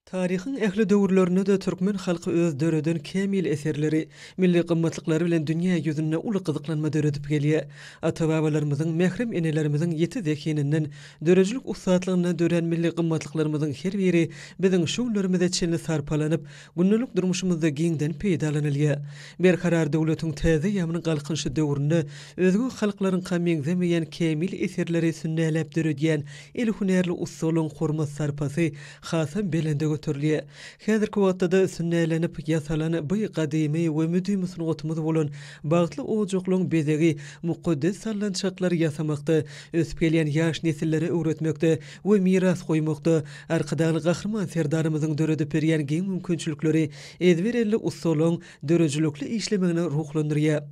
Taryhyň ähli döwürlerinde-de türkmen halky öz döreden kämil eserleri, milli gymmatlyklary bilen dünýä ýüzünde uly gyzyklanma döredip gelýär. Ata-babalarymyzyň, mährem enelerimiziň ýiti zehininden, döredijilik ussatlygyndan dörän milli gymmatlyklarymyzyň her biri biziň şu günlerimize çenli sarpalanyp, gündelik durmuşymyzda giňden peýdalanylýar. Berkarar döwletiň täze ýaman galkynyşy döwründe özge halklaryňka meňzemeýän kämil eserleri sünnäläp döredýän El hünärli ussalyň hormat-sarpasy hasam belende göterilýär. Häzirki wagtda-da sünnälenip ýasalan bu gadymy we müdimi sungatymyz bolan bagtly ojaklaryň bezegi mukaddes sallançaklary ýasamakda, ösüp gelýän ýaş nesillere öwretmekde we miras goýmakda Arkadagly Gahryman Serdarymyzyň döredip berýän giň mümkinçilikleri ezber elli ussalyň döredijilikli işlemegini ruhlandyrýar.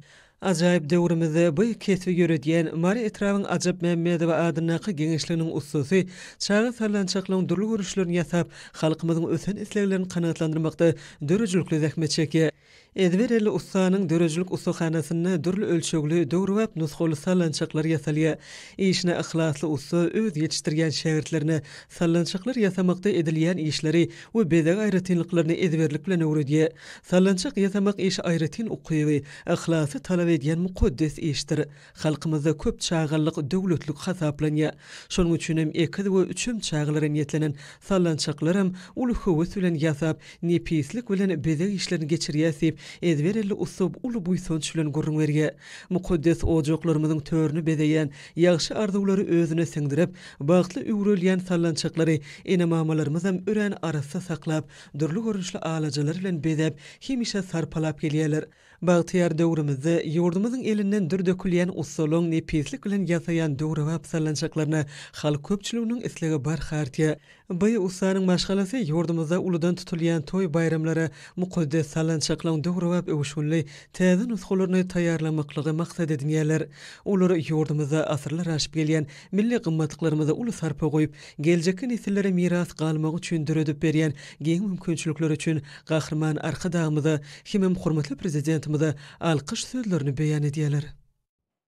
Ajaýyp döwrümizde bu kesbi ýöredýän Mary etrabyň Ajap Mämmedowa adyndaky geňeşliginiň ussasy çaga sallançaklaryň dürli görnüşlerini ýasap, halkymyzyň ösen isleglerini kanagatlandyrmakda döredijilikli zähmet çekýär. Ezber elli ussanyň döredijilik ussahanasynda dürli ölçegli, döwrebap nusgaly sallançaklar ýasalýar. Işine yhlasly ussa öz ýetişdirýän şägirtlerine sallançaklar ýasamakda edilýän işleri we bezeg aýratynlyklaryny ezberlik bilen öwredýär. Sallançak ýasamak işi aýratyn ukyby, Yhlasy talap edýän mukaddes işdir. Halkymyzda köp çagalyk döwletlik hasaplanýar. Şonuň üçinem ekiz we üçem çagalara niýetlenen sallançaklaram uly höwes bilen ýasap, nepislik bilen bezeg işlerini geçirýäs diýip, ezber elli ussa uly buýsanç bilen gürrüň berýär. Mukaddes ojaklarymyzyň törüni bezeýän, ýagşy arzuwlary özüne siňdirip, bagtly üwrelýän sallançaklary ene-mamalarymyzam örän arassa saklap, dürli görnüşli alajalar bilen bezäp, hemişe sarpalap gelýärler. Bagtyýar döwrümizde ýurdumyzyň elinden dür dökülýän ussalygyň nepislik bilen ýasaýan döwrebap sallançaklaryna halk köpçüliginiň islegi barha artýar. Baý ussanyň maşgalasy ýurdumyzda uludan tutulýan toý-baýramlara mukaddes sallançaklaryň döwrebap öwüşginli täze nusgalaryny taýýarlamaklygy maksat edinýärler. Olar ýurdumyzda asyrlar aşyp gelýän milli gymmatlyklarymyza uly sarpa goýup, Geljekki nesillere miras galmagy üçin döredip berýän giň mümkinçilikleri üçin Gahryman Arkadagymyza hemem hormatly Prezidentimize alkyş sözlerini beýan edýärler.